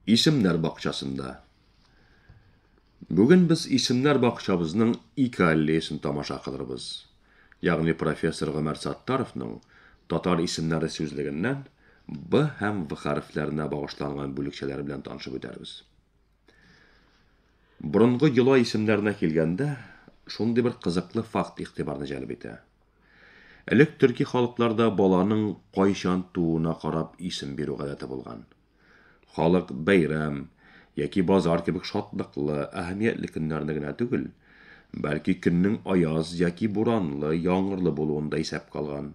Исемнәр бакчасында. Бүген без исемнәр бакчабызның ике аллеясын тамаша кылырбыз. Ягъни профессор Гомәр Саттаровның татар исемнәре сүзлегеннән Б һәм В хәрефләренә багышланган бүлекчәләр белән танышып үтәрбез. Борынгы йола исемнәренә килгәндә, шундый бер кызыклы факт игътибарны җәлеп итә. Элек төрки халыкларда баланың кайчан тууына карап исем бирү гадәте булган. Халык бәйрәм яки базар кебек шатлыклы, әһәмиятле көннәрне генә түгел, бәлки көннең аяз яки буранлы, яңгырлы булуын да исәпкә алган.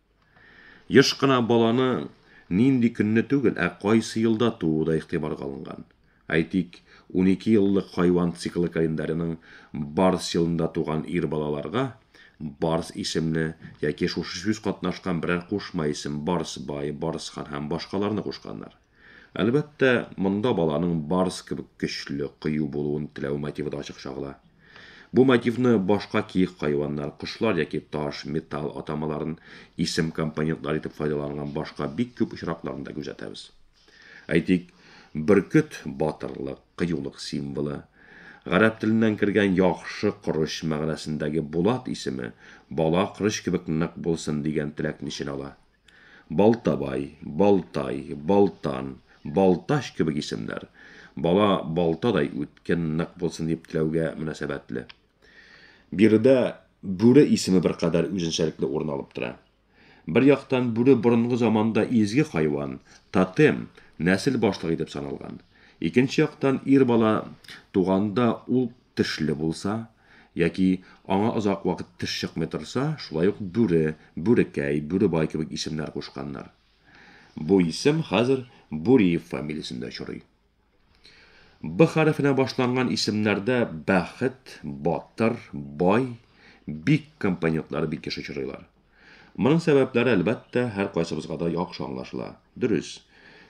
Еш кына баланың нинди көнне түгел, ә кайсы елда тууы да игътибарга алынган. Әйтик, унике еллык хайван циклы календаренең Барс елында туган ир балаларга Барс исемле яки шушы сүз катнашкан берәр кушма исем Барсбай, Барсхан һәм башкаларны кушканнар. Әлбәттә, монда баланың барс кебек көчле, кыю булуын теләү мотивы да ачык чагыла. Бу мотивны башка киек хайваннар, кошлар яки таш, металл атамаларын исем-компонентлар итеп файдаланган башка бик күп очракларында күзәтәбез. Әйтик, бөркет, батырлык, кыюлык символы. Гарәп теленнән кергән яхшы корыч мәгънәсендәге Булат исеме бала корыч кебек нык булсын дигән теләкне эченә ала. Балтабай, Балтай, Балтан, Балтач кебек исемнәр, бала балтадай үткен, нык булсын дип теләүгә мөнәсәбәтле. Биредә Бүре исеме беркадәр үзенчәлекле урын алып тора. Бер яктан, бүре борынгы заманда изге хайван, тотем, нәсел башлыгы итеп саналган. Икенче яктан, ир бала туганда ул тешле булса, Яки, аңа озак вакыт теш чыкмый торса, шулай ук Бүре, Бүрекәй, Бүребай кебек исемнәр кушканнар. Бу исем хәзер Буриев фамилиясендә очрый. Б хәрефенә башланган исемнәрдә Бәхет, Батыр, Бай, Бик компонентлары бик еш очрыйлар. Моның сәбәпләре, әлбәттә, һәркайсыбызга да яхшы аңлашыла. Дөрес,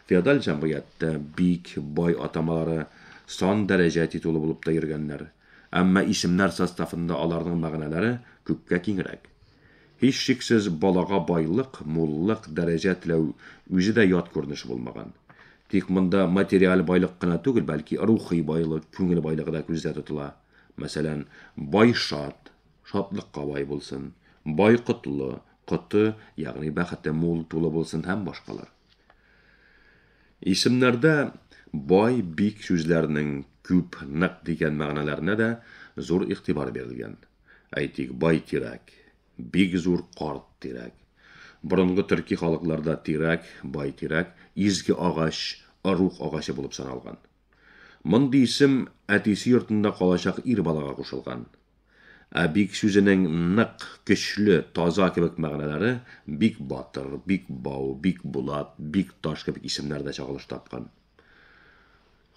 феодаль җәмгыятьтә бик, бай атамалары сан-дәрәҗә титулы булып та йөргәннәр. Әмма исемнәр составында аларның мәгънәләре күпкә киңрәк. Һичшиксез, балага байлык, муллык, дәрәҗә теләү үзе дә ят күренеш булмаган. Тик монда материаль байлык кына түгел, бәлки рухи байлык, күңел байлыгы да күздә тотыла. Мәсәлән, бай шат, Шатлыкка бай булсын, бай котлы, коты, ягъни бәхете мул, тулы булсын һәм башкалар. Исемнәрдә бай, бик сүзләренең күп, нык дигән мәгънәләренә дә зур игътибар бирелгән. Әйтик, бай тирәк, бик зур карт тирәк. Борынгы төрки халыкларда тирәк, бай тирәк, изге агач, орух агачы булып саналган. Мондый исем әтисе йортында калачак ир балага кушылган. Ә бик сүзенең нык, көчле, таза кебек мәгънәләре бик батыр, бик бау, бик булат, бик таш кебек исемнәр дә чагылыш тапкан.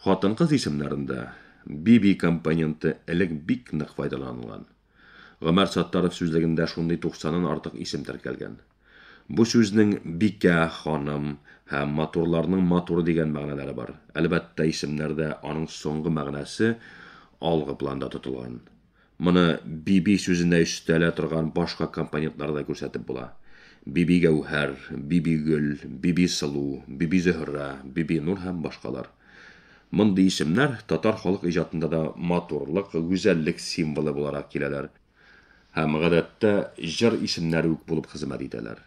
Хатын-кыз исемнәрендә биби компоненты элек бик нык файдаланылган. Гомәр Саттаров сүзлегендә шундый туксаннан артык исем теркәлгән. Бу сүзнең бикә, ханым һәм матурларның матуры дигән мәгънәләре бар. Әлбәттә, исемнәрдә аның соңгы мәгънәсе алгы планда тотылган. Моны Биби сүзенә өстәлә торган башка компонентлар да күрсәтеп була. Бибигәүһәр, Бибигөл, Бибисылу, Бибизөһрә, Бибинур һәм башкалар. Мондый исемнәр татар халык иҗатында да матурлык, гүзәллек символы буларак киләләр һәм, гадәттә, җыр исемнәре үк булып хезмәт итәләр.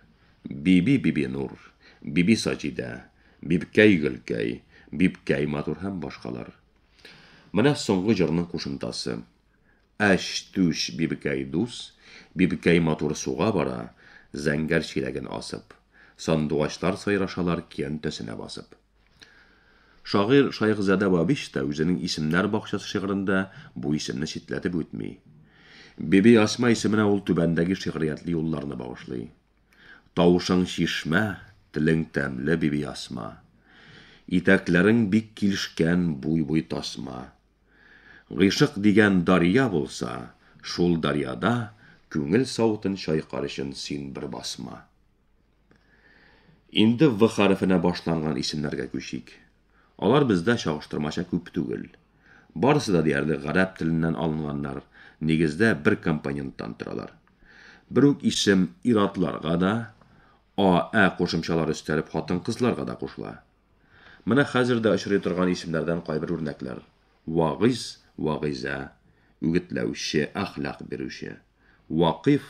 Биби Бибинур, Биби Саҗидә, Бибкәй Гөлкәй, Бибкәй матур һәм башкалар. Менә соңгы җырның кушымтасы. Әч-түш Бибкәй дус, Бибкәй матур суга бара, Зәңгәр чиләген асып. Сандугачлар сайрашалар киянтәсенә басып. Шагыйрь Шайхзадә Бабич та үзенең Исемнәр бакчасы шигырендә бу исемне читләтеп үтми. Бибиасма исеменә ул түбәндәге шигъриятле юлларны багышлый. Тавышың чишмә, телең тәмле, Бибиасма. Итәкләрең бик килешкән, буй-буй тасма. Гыйшык дигән дарья булса, шул дарьяда Күңел савытын чайкар өчен син бер басма. Инде В хәрефенә башланган исемнәргә күчик. Алар бездә чагыштырмача күп түгел. Барысы да диярлек гарәп теленнән алынганнар, нигездә бер компоненттан торалар. Бер үк исем ир-атларга да, а, ә кушымчалар өстәлеп хатын-кызларга да кушыла. Менә хәзер дә очрый торган исемнәрдән кайбер үрнәкләр, вагыйз, вагыйзә, үгетләүче, әхлак бирүче, вакыйф,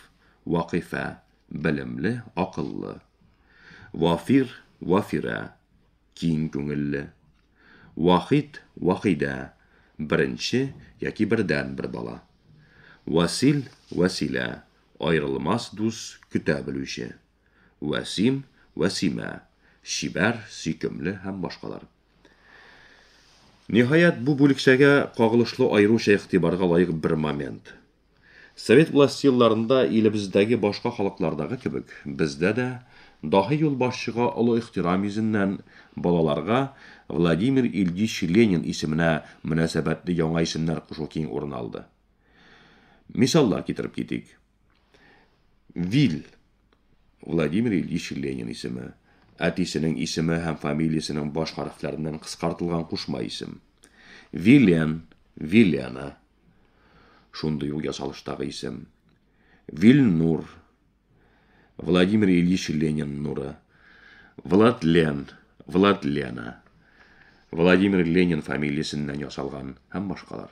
вакыйфә, Белемле, акыллы. Вафир, Вафирә, киң күңелле. Вахид, Вахидә, беренче яки бердән бер бала. Васил, Вәсилә, аерылмас дус, көтә белүче. Вәсим, Вәсимә, чибәр, сөйкемле һәм башкалар. Ниһаять, бу бүлекчәгә кагылышлы аеруча игътибарга лаек бер момент. Совет власте елларында илебездәге башка халыклардагы кебек, бездә дә, даһи юлбашчыга олы ихтирам йөзеннән, балаларга Владимир Ильич Ленин исеменә мөнәсәбәтле яңа исемнәр кушу киң урын алды. Мисаллар китереп китик. Вил. Владимир Ильич Ленин исеме. Әтисенең исеме һәм фамилиясенең баш хәрефләреннән кыскартылган кушма исем. Вилен, Вилена. Шундый ул ясалыштагы исем. Вильнур. Владимир Ильич Ленин нуры. Владлен, Владлена. Владимир Ленин фамилиясеннән ясалган һәм башкалар.